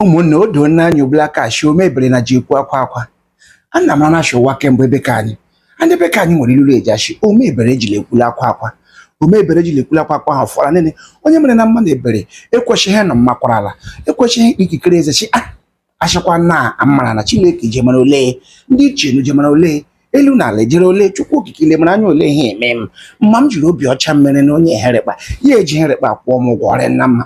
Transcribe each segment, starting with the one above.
ụmụnna o doo n'anya ugbula aka shi ome ebere na ji ekwu akwa akwa a na mara shi ụwa kemgbe ebe ka anyị ndị be ka anyị nwere ilulu eji ashi ome ebere ejila ekwula akwa akwa ome ebere ejila ekwula akwa akwa ahụ fọrọ nene onye mere na mmadụ ebere ekwesịghị nọ mmakwara ala ekwesịghị ikpe ikikere eze chi a achịkwa na amara na chileke jemara ole ndị ichie na jemara ole elu na ala ejere ole chukwu okike ile mara anya ole ihe eme m mma m jiri obi ọcha mere na onye herịkpa ya eji herịkpa kwụọ m ụgwọ ọrịa nna mma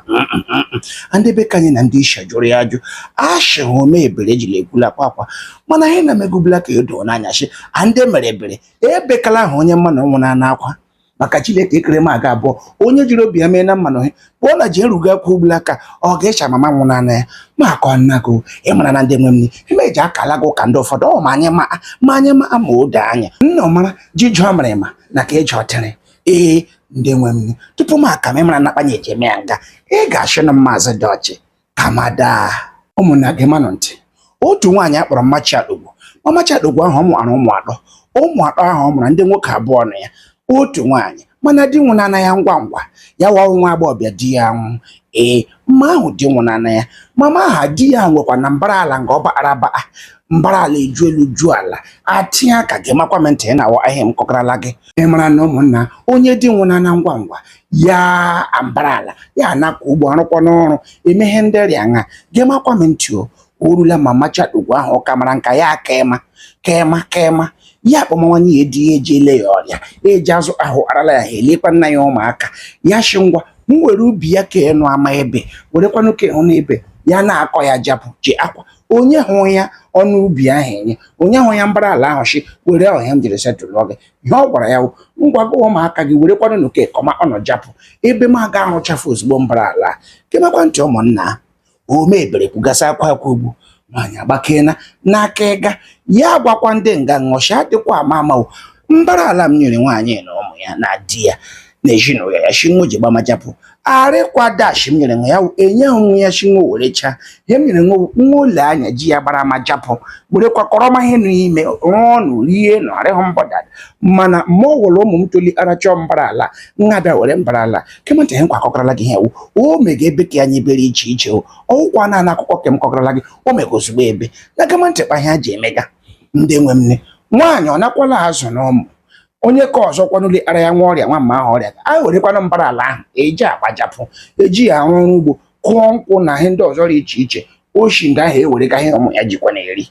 ndị be ka anyị na ndị ishi jụrụ ya ajụ ashị hụ ome ebere ejila ekwula akwa akwa mana ihe na-eme ugbula aka edo n'anya shi a ndị mere ebere ebekala ahụ onye mma na ọnwụ na-ana akwa maka chileke ekere m aga abụọ onye jiri obi ya mee na mmanụ ihe kpụọ na ji erugo akwụ ugbula aka ọ ga-echa mama nwụ n'anya ya ma akọ nna gị ị mara na ndị nwe m ime eji akala gị ụka ndị ụfọdụ ọ ma anyị ma ma anyị ma ma o doo anya nna ọmara ji jụọ mara ịma na ka eji ọtịrị ee ndị nwe m tupu m aka m ịmara na akpanye eji eme ya nga ị ga-achụ na maazị dị ọchị amada ụmụnna gemanụ ntị otu nwaanyị akpọrọ mmachi ugwu mamachi ugwu ahụ ọ mụara ụmụ atọ ụmụ atọ ahụ ọ mụrụ ndị nwoke abụọ na ya otu nwaanyị mana di nwụnana ya ngwa ngwa ya wụ nwa agbọghọbịa di ya nwụ ee mma ahụ di nwụnana ya mama aha di ya nwekwa na mbara ala nga ọ baara baa mbara ala eju elu ju ala atinye aka gemakwa m ntị ị na-awa ahịa m kọkarala gị ị mara na ụmụnna onye di nwụnana ngwa ngwa ya mbara ala ya na-akọ ugbo arụkwa n'ọrụ emeghe ndị rịa nha gemakwa m ntị o orula mamachi ugwu ahụ ọka mara nka ya aka ịma ka ịma ka ịma ya akpọmawanye ya di ya eji ele ya ọrịa eji azụ ahụ arala ya ha elekwa nna ya ụmụaka ya shi ngwa m were ubi ya ka ịnụ ama ebe werekwanụ ka ịhụ na ebe ya na-akọ ya japụ ji akwa onye hụ ya ọnụ ubi ahụ enye onye hụ ya mbara ala ahụ shi were ọhịa m jiri setụlụ gị ihe ọ gwara ya wụ ngwa gụọ ụmụaka gị werekwanụ n'oke kọma ọnụ japụ ebe m aga ahụchafụ ozugbo mbara ala gemakwa ntị ụmụnna ome ebere kwugasị akwa akwa ugbu nwaanyị agbakena n'aka ịga ya agwakwa ndị nga ahụ shị adịkwa ama amawo mbara ala m nyere nwaanyị na ụmụ ya na di ya na ezinụlọ ya shi nwo ji gbama japụ arịkwada shi m nyere nwa ya enye nwa ya shi nwo werechaa ihe m nyere nwa nwa ụlọ anya ji ya gbara ma japụ werekwa kọrọ ma ihe n'ime rụọ ọnụ rie nụ arịhụ mbọda mana ma ọ wụrụ ụmụ m toli arachọ mbara ala nwa bịa were mbara ala gema ntị ihe nkwakọkọrọla gị ihe wụ o mega ebe ka ya nye ebere iche iche o ọwụkwa na ana akụkọ ke m kọkọrọla gị o mega ozugbo ebe na gema ntị kpa ihe a ji emega ndị nwe m nne nwaanyị ọ nakwala azụ na ụmụ onye ka ọzọ kwanụli ara ya nwa ọrịa nwa mma ahụ ọrịa a werekwana mbara ala ahụ eji agbajapụ eji ya arụ ọrụ ugbo kụọ nkwụ na ihe ndị ọzọ dị iche iche oshi ndị ahụ ewere ka ihe ụmụ ya jikwa na-eri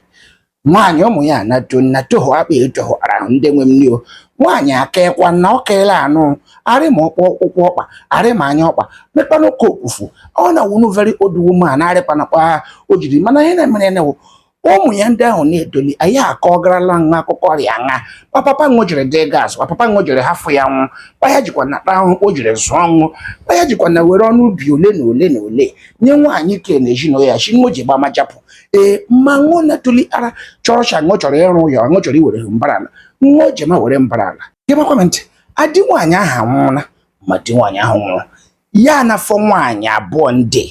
nwaanyị ụmụ ya anato nnatoho akpa etoho ara ahụ ndị nwe m o nwaanyị akaekwana ọ kaela anụ arị ma ọkpọ ụkwụ ọkpa arị ma anya ọkpa mekpanụ ka okwufu ọ na wụnụ very old woman arịkpanakwa o jiri mana ihe na-emere ya na-ewu ụmụ ya ndị ahụ na-etoli aya akọgarala ṅụ akụkọ ọrịa nha ma papa ṅụ jiri dị gas ma papa ṅụ jiri hafụ ya nwụ kpa ya jikwana ahụ o jiri zụọ ṅụ kpa ya jikwana were ọnụ ubi ole na ole na ole nye nwaanyị ke na ezinụlọ ya shi ṅụ ji gbama japụ ee ma ṅụ na-etoli ara chọrọ shi ṅụ chọrọ ịrụ ya ṅụ chọrọ iwere mbara ala ṅụ jema were mbara ala gemakwa ntị di nwaanyị ahụ anwụọla ma di nwaanyị ahụ nwụrụ ya anafọ nwaanyị abụọ ndị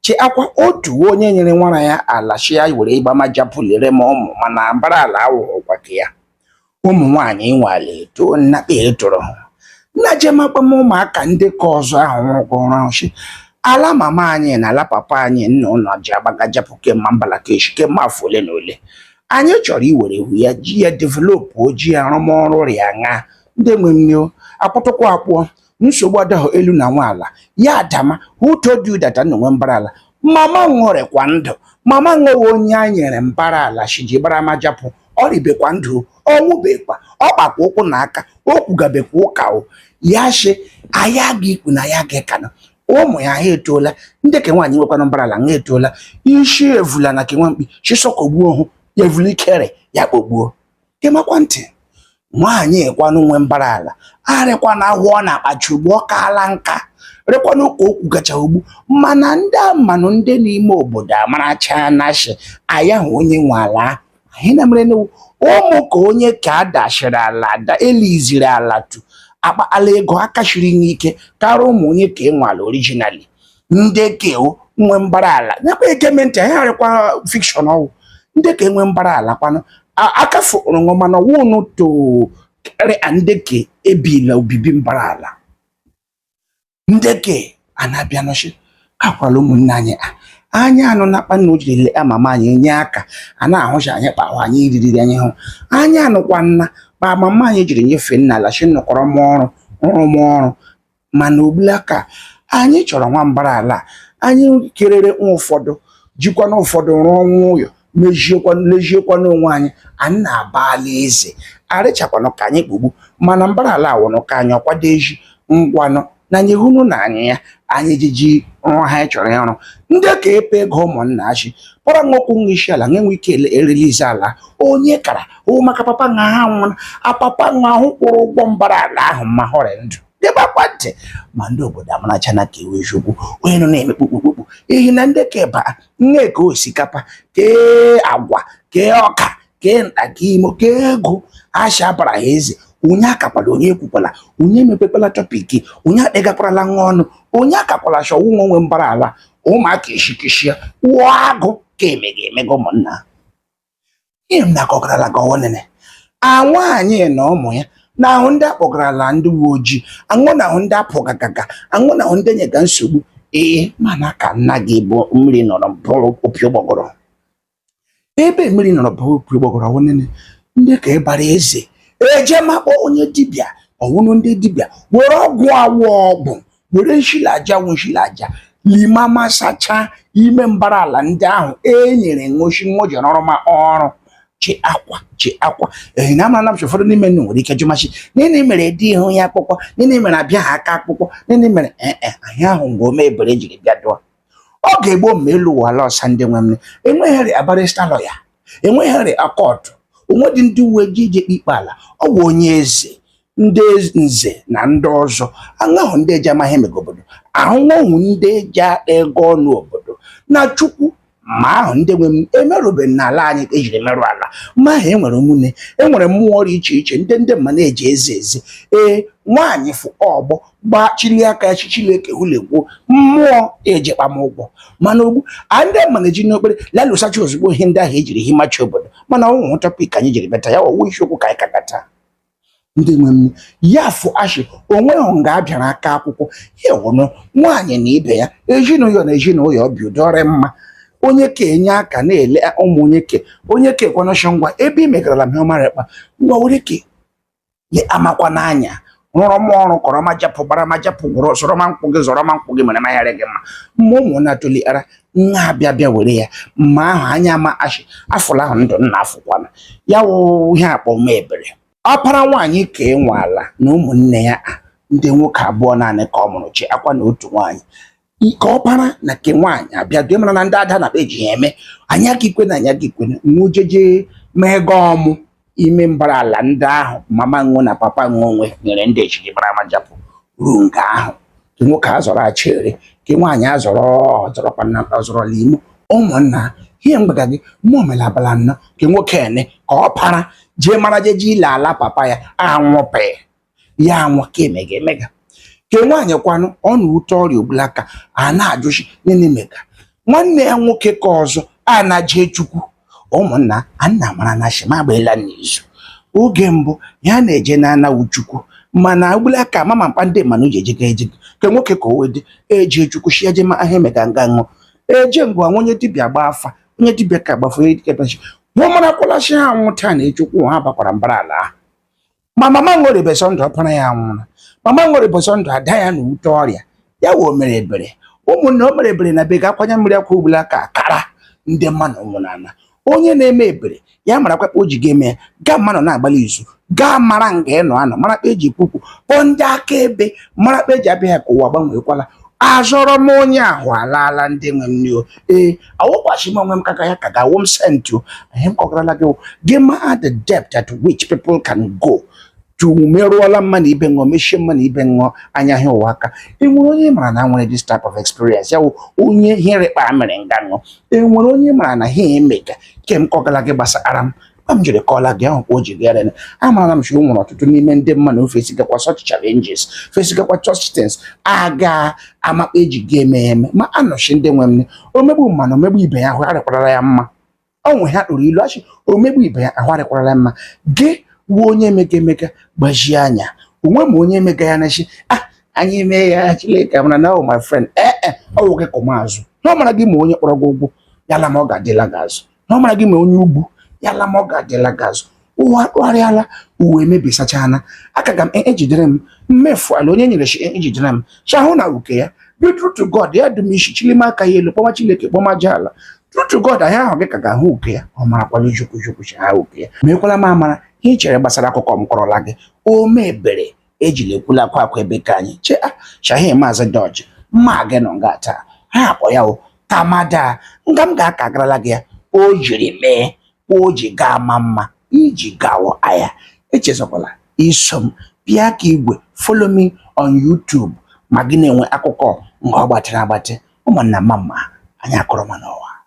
che akwa otu onye nyere nwara ya ala shi ya were ịgbamajapụ lerema ụmụ mana mbara ala awụghịkwa ke ya ụmụ nwaanyị nwale eto nnakpa etoro ha nna jemakpa m ụmụaka ndị ke ọzọ ahụ nwụrụkọrọ ahụ shi ala mama anyị na ala papa anyị nna ụlọ ji agbagajapụ kemma mbalakeshi kemma afọ ole na ole anyị chọrọ iwere ihu ya ji ya developụ oji arụmọrụ rịa ṅa ndị nwe m o akwụtụkwọ akpụọ nsogbu adahụ elu na nwa ala ya adama uto dị ụdata onye nwe mbara ala mama ṅụ rịkwa ndụ mama ṅụ wụ onye a nyere mbara ala shi ji gbara majapụ ọ rịbekwa ndụ ọ nwụbekwa ọ kpakwa ụkwụ na aka o kwugabekwa ụka o ya shi aya gị ikwu na ya gị kanụ ụmụ ya ha etoola ndị ke nwaanyị nwekwana mbara ala ha etoola isi evula na ke nwa mkpi chisọkogbuo hụ ya evula ikere ya kpogbuo gemakwa ntị nwaanyị ekwanụ nwe mbara ala arịkwana ahụ ọ na-akpachi ugbu ọ kaala nka rịkwanụ ka o kwugacha ugbu mana ndị amanụ ndị n'ime obodo amaracha na shi aya wụ onye nwe ala anyị na mere n'ewu ụmụ ka onye ka a dachiri ala da eliziri ala tu akpa ala ego akachiri n'ike karịa ụmụ onye ke nwe ala orijinali ndị ke nwe mbara ala nyekwa ege m ntị anyị arịkwa fikshọn ọ wụ ndị ke nwe mbara ala kwanụ akafu ụrụṅụ mana wụnụ to kere ndị ke ebila obibi mbara ala ndị ke anabịa nọchi akwala ụmụnne anyị a anyị anụna kpa nna o jiri lee mama anyị enye aka a na-ahụcha anyị kpa ahụ anyị iriri anyị hụ anyị anụkwana kpa mama anyị jiri nyefee nna ala shi nọkọrọ m ọrụ ọrụ m ọrụ mana ugbula ka anyị chọrọ nwa mbara ala anyị kerere nwa ụfọdụ jikwana ụfọdụ rụọnụ ụyọ lejiekwana onwe anyị anyị na-aba ala eze arịchakwanụ ka anyị kpogbu mana mbara ala awụnụ ka anyị ọkwado eji ngwanụ na anyị hụnụ na anyị ya anyị jiji rụọ ha anyị chọrọ ịrụ ndị ka epe ego ụmụnna achị kpọrọ nwokwu nwa isi ala nwe ike erelize ala onye kara o maka papa nwa ha nwụrụ papa nwa ahụ kwụrụ ụgwọ mbara ala ahụ ma họrị ndụ debakwa ntị ma ndị obodo amaracha na ka iwe chukwu onye nọ na-eme kpukpukpukpu ihi na ndị keba nne ka osikapa kee agwa kee ọka kee nta kee imo kee ego asha bara ha eze onye akakwala onye ekwukwala onye emepekwala tọpiki onye akpegakwarala nwa ọnụ onye akakwala chọwa onye nwe mbara ala ụmụaka eshikishia wụọ agụ ka emega emega ụmụnna ihe m na-akọgarala ka ọwụ nene a nwaanyị na ụmụ ya na-ahụ ndị akpọgarala ndị uwe ojii awụ na-ahụ ndị apụgagaga awụ na-ahụ ndị nyega nsogbu ee mana ka nna gị bụ mmiri nọrọ bụrụ opi ụgbọgọrọ ebe mmiri nọrọ bụrụ opi ụgbọgọrọ ọwụ nene ndị ka ịbara eze eje ma kpọọ onye dibịa ọwụnụ ndị dibịa were ọgwụ awụ ọgwụ were nshi la aja wụ nshi la aja lima ma sachaa ime mbara ala ndị ahụ e nyere ṅụchi ṅụji n'ọrụ ma ọrụ chi akwa chi akwa ehi na amara namchi ụfọdụ n'ime nnu nwere ike jụmachi nini mere edehụ ya akwụkwọ nini mere abịaha aka akwụkwọ nini mere ee e, ahịa ahụ mgbe ome ebere jiri bịa dụọ ọ ga-egbo mma elu ụwa ala ọsa ndị nwe m enweghịrị barịsta lọya enweghịrị kọọtụ o nwedị ndị uwe ojii ji ekpe ikpe ala ọ bụ onye eze ndị nze na ndị ọzọ awụ ndị eji amaghị emego obodo awụ ndị eji akpa ego ọnụ obodo na chukwu ma ahụ ndị nwe m emerụbeghị n'ala anyị ka ejiri merụ ala ma ahụ enwere ụmụnne enwere mmụọ dị iche iche ndị ndị mma na-eji eze eze ee nwaanyị fụ ọgbọ gbaa chili aka ya chichileke hulegwuo mmụọ eji kpam ụgwọ mana ugbu a ndị mma na-eji n'okpere lalụsachi ozugbo ihe ndị ahụ ejiri himachi obodo mana ọ wụhụ tọpik anyị jiri bata ya ọwụ isiokwu ka anyị ka bata ndị nwe m ya afụ ashị o nweghị nga a bịara aka akwụkwọ ya ọnụ nwaanyị na ibe ya ezinụlọ na ezinụlọ bi udo ọ rị mma onye ke enye aka na-ele ụmụ onye ke onye ke kwanọshọ ngwa ebe ị megarala m ihe ọma ekpa ngwa were ke le amakwa n'anya rụrụ m ọrụ kọrọ ma japụ gbara ma japụ gwụrụ sọrọ ma nkwụ gị zọrọ ma nkwụ gị mere ma yara gị mma mma ụmụ na-atụlighara nna abịa bịa were ya mma ahụ anya ma ashị afụla ahụ ndụ nna afụkwana ya wụ ihe akpọ ome ebere ọpara nwaanyị ka e nwe ala na ụmụnne ya ndị nwoke abụọ naanị ka ọ mụrụ chi akwa na otu nwaanyị nke ọpara na nke nwaanyị abịa dị mara na ndị ada na be ji ya eme anyị agị ikwe na anyị agị ikwe nwujeje mee gị ọmụ ime mbara ala ndị ahụ mama ṅụọ na papa ṅụọ nwe nyere ndị ejiri mara majapụ ruo nga ahụ ke nwoke azọrọ achịrị ke nwaanyị azọrọ ọzọrọkwa na ọzọrọ n'ime ụmụnna ihe m gbaga gị mmụọ mere abala nnọ ke nwoke ene ke ọpara jee mara jeje ile ala papa ya anwụpee ya anwa ka emega emega ke nwaanyị kwanụ ọ n'ute ọrịa ugbula aka a na-ajụchi nene mega nwanne ya nwoke ka ọzọ a na-jee chukwu ụmụnna a nna mara na shima agbaela n'izu oge mbụ ya na-eje na anawu chukwu mana ugbula aka amama m kpa ndị mmanụ ji ejega ejega ke nwoke ka o wede eje chukwu shi eje ma ahụ emega nga ṅụ eje nga nwa onye dibịa gba afa onye dibịa ka gbafu onye dibịa gbachi wọ marakwala shi ha nwụ taa na echi ụkwụ ha bakwara mbara ala ahụ ma mama nwere ụbọchị ndụ ọpara ya nwụrụ mama nwere ụbọchị ndụ ada ya n'ute ọrịa ya wee o mere ebere ụmụnna o mere ebere na bega akwa anya mmiri akwa ugbula aka kara ndị mmanụ ụmụnna onye na-eme ebere ya marakwa kpa o ji ga-eme ya ga mmanụ na-agbalị izu ga-amara nga ị nọ anọ mara kpa eji kwukwu kpọọ ndị akaebe mara kpa eji abịa ya ka ụwa agbanweekwala azọrọ m onye ahụ alaala ndị nwe m nio ee awụkwachi m onwe m kaka ya ka ga-awụ m sentị ihe m kọgarala gị gị ma the depth at which people can go to merụọla mmanụ ibe ṅụọ mechie mmanụ ibe ṅụọ anya ha ụwa aka e nwere onye mara na nwere this type of experience ya wụ onye hụrụ kpa mere nga ṅụọ e nwere onye mara na ihe emega ke m kọgala gị gbasara m a m jiri kọla gị ahụ ka o ji gara na amara m shi e nwere ọtụtụ n'ime ndị mmanụ fesigakwa such challenges fesigakwa such things aga ama kpa eji ga eme eme ma anọchi ndị nwe m omegbu mmanụ omegbu ibe ya ahụ arịkwarala ya mma o nwe ihe a kpụrụ ilu a shị omegbu ibe ya ahụ arịkwarala ya mma gị wụ onye mega emega gbajie anya onwe m onye mega ya nachi ah anyị mee ya Chineke mara na ọ oh, my friend ee eh, eh, ọ nwoke kọmazụ na ọ mara gị ma onye kpọrọ gị ugwu ya la ma ọ ga-adịla gị azụ na ọ mara gị ma onye ugwu ya la ma ọ ga-adịla gị azụ ụwa kpụgharịala ụwa emebisachana aka ga m e, ejidere m mmefu ala onye nyere shi e, ejidere m shi ahụ na uke ya be true to God ya dụ m ishi chilima aka ya elu kpọma Chineke kpọma aja ala true to God anyị ahụ gị ka ga-ahụ uke ya ọ marakwala ijukwu jukwu ha uke ya mekwala m amara ihe i chere gbasara akụkọ m kọrọla gị o me ebere ejila ekwula akwa akwa ebe ka anyị chee ah, shahi maazị dọji mma gị nọ nga taa ha akpọ ya o tamada nga m ga-akọgarala gị ya o jiri mee o ji gaa ma mma iji gawa aya echezọkwala iso m bịa aka igwe follow me on YouTube ma gị na-enwe akụkọ nga ọ gbatịrị agbatị ụmụnna mma mma anyị akọrọ ma n'ụwa